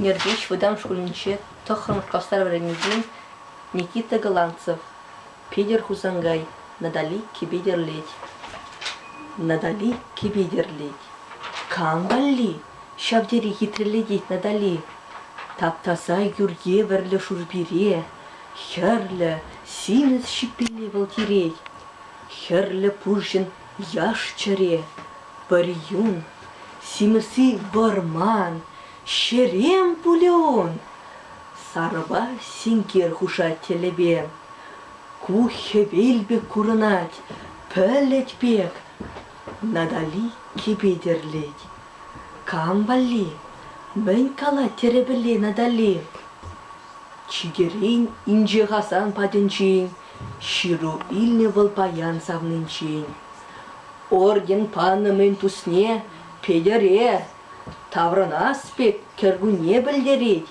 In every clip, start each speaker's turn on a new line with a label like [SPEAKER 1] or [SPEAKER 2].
[SPEAKER 1] Нӗрпеҫ вӑтам шкулӗнче тӑххӑрмӗш классра вӗренекен Никита Голландцев Питӗр Хусанкай Натали кӗпе-тӗрлет. Натали кӗпе-тӗрлет. Кам валли? Ҫав тери хитрелетет Натали. Тап-таса юр евӗрлӗ шурпире Хӗрлӗ, симӗс ҫиппине вӑл тирет. Хӗрлӗ пурҫӑн яш чӗре. Пӗр юн, симӗси вӑрман, ҫерем пулӗ ун. Сарӑпа синкер хушать тӗлӗпе. Ку хӗвел пек курӑнать, пӗлӗт пек. Натали кӗпе тӗрлет. Кам валли? Мӗн калать тӗрӗпелле Натали? Чикерен инҫе Хасан патӗнчен ҫыру илнӗ вӑл паян савнинчен. Орден панӑ мӗн тусне Петӗре таврӑнас пек кӗркунне пӗлтерет.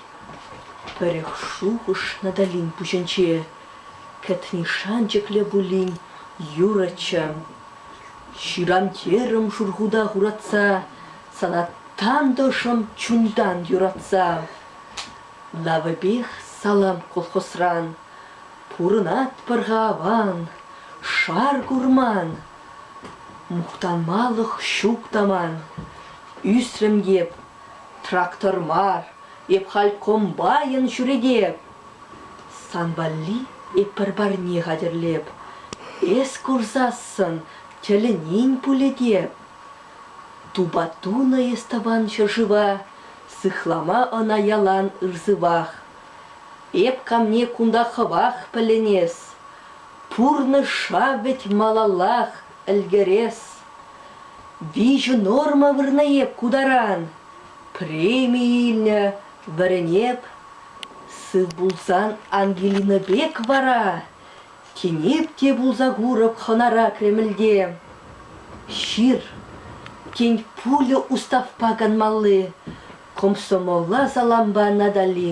[SPEAKER 1] Пӗрех шухӑш Наталин пуҫӗнче кӗтни шанчӑклӗ пулин юрӑччӗ. Ҫырам терӗм шурхута хуратса, сана тантӑшӑм чунтан юратса. Навӗпех салам колхозран. Пурӑнатпӑр-ха аван, шар курман. Мухтанмалӑх ҫук та ман. Ӳсрӗм эп, трактор мар, эп халь комбайн ҫӳретеп. Сан валли эп пӗр парне хатӗрлеп, эс курсассӑн тӗлӗнен пулӗ теп. Тупа тунӑ эс тӑван ҫӗршыва, Сыхлама ӑна ялан ырсывах. Эп камне кунта хӑвах пӗлӗнес, Пурнӑҫ шав вӗт малаллах ӗлкӗрес. Виҫӗ норма вырнӑ эп ку таран, Преми илнӗ вӗрӗн эп. Сыв пулсан Ангелина пек вара Тинех те пулса курӑп хӑнара Кремльте. Ҫыр, тен, пулӗ уставпа канмалли, комсомола салампа Натали.